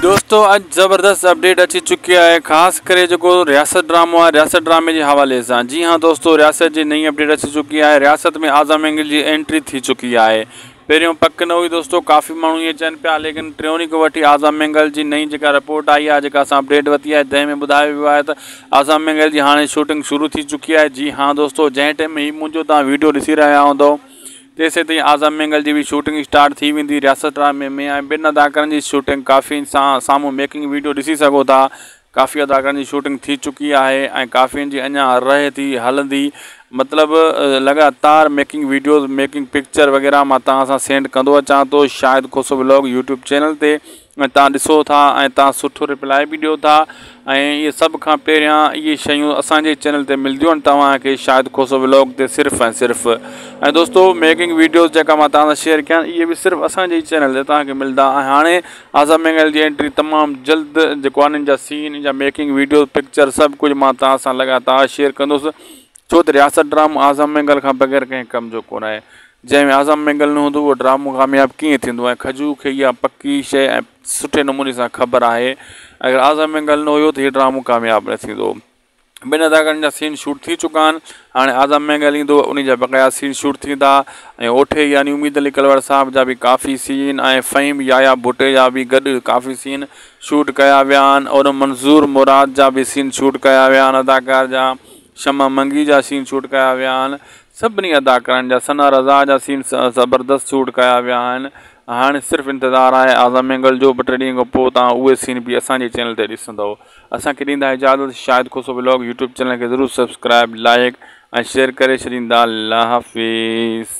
دوستو اڄ زبردست اپڊيٽ اچي چڪي آهي خاص ڪري جيڪو رياست ڊرامو آهي رياست ڊرامي جي حوالي سان جي هاں دوستو رياست جي نئين اپڊيٽ اچي چڪي آهي رياست ۾ اعظم انگل جي انٽري ٿي چڪي آهي پهريون پڪ نه هئي دوستو ڪافي ماڻهو ائين چئن پيا ليڪن ٽريوني کان وٺي آزا مينگهل جي نئين جيڪا رپورٽ آئي آهي جيڪا اسان اپڊيٽ وتي آهي تنهن ۾ ٻڌايو ويو آهي ته آزا مينگهل جي هاڻي شوٽنگ شروع ٿي چڪي آهي جي ها دوستو جنهن ٽيم ۾ هي منهنجو توهان ويڊيو ڏسي رهيا هوندو تيسين تائين آزا مينگهل جي به شوٽنگ اسٽارٽ ٿي ويندي رياست ڊرامي ۾ ۽ ٻن اداڪارن جي شوٽنگ ڪافي سان سامهون ميڪنگ ويڊيو ڏسي سگهو ٿا ڪافي اداڪارن جي شوٽنگ ٿي چڪي آهي ۽ ڪافين جي اڃا رهي ٿي هلندي مطلب لڳاتار ميڪنگ ويڊيوز ميڪنگ پڪچر وغيره مان توهان سان سينڊ ڪندو اچان ٿو Shahid Khoso vlog YouTube channel تي ۽ توهان ڏسو ٿا ۽ توهان سٺو ريپلاء به ڏيو ٿا ۽ اهي سڀ کان پهريان اهي شيون اسانجي چينل تي ملنديون آهن توهان کي شاهد کوسو ولاگ تي صرف ۽ صرف ۽ دوستو ميڪنگ ويڊيوز جيڪا مان توهان سان شيئر ڪيا اهي به صرف اسانجي چينل تي توهان کي ملندا ۽ هاڻي آزا مينگل جي انٽري تمام جلد جيڪو آهي انهن جا سين جا ميڪنگ ويڊيو پڪچر سڀ ڪجهه مان توهان سان لڳاتار شيئر ڪندوس ڇو ته رياست ڊرامو آزا مينگل کان بغير ڪنهن ڪم جو ڪونه آهي جنهن ۾ آزا مينگل نه هوندو اهو ڊرامو ڪامياب ڪيئن ٿيندو ۽ کجو کي اها پڪي شئي ۽ سٺي نموني سان خبر آهي اگر آزا مينگل نه هيو ته هي ڊرامو ڪامياب نه ٿيندو ٻن اداڪارن جا سين شوٽ ٿي چڪا آهن هاڻي اعظم مينگل ايندو انهي جا بقايا سين شوٽ ٿيندا ۽ اوٺي يعني اميد علي ڪلواڙ صاحب جا به ڪافي سين ۽ فهيم يايا ڀٽي جا به گڏ ڪافي سين شوٽ ڪيا ويا آهن اور منظور مراد جا به سين شوٽ ڪيا ويا آهن اداڪار جا شمع منگي جا سين شوٽ ڪيا ويا آهن سڀني اداڪارن جا ثنا رضا جا سين زبردست شوٽ ڪيا ويا آهن هاڻي صرف انتظار آهي اعظم مينگل جو ٻه ٽي ڏينهن کان پوء تهان اهي سين به اسان جي چينل تي ڏسندو اسان کي ڏيندا اجازت Shahid Khoso vlog YouTube channel کي ضرور سبسڪرائب لائيڪ ۽ شيئر ڪري ڇڏيندا الله حافظ.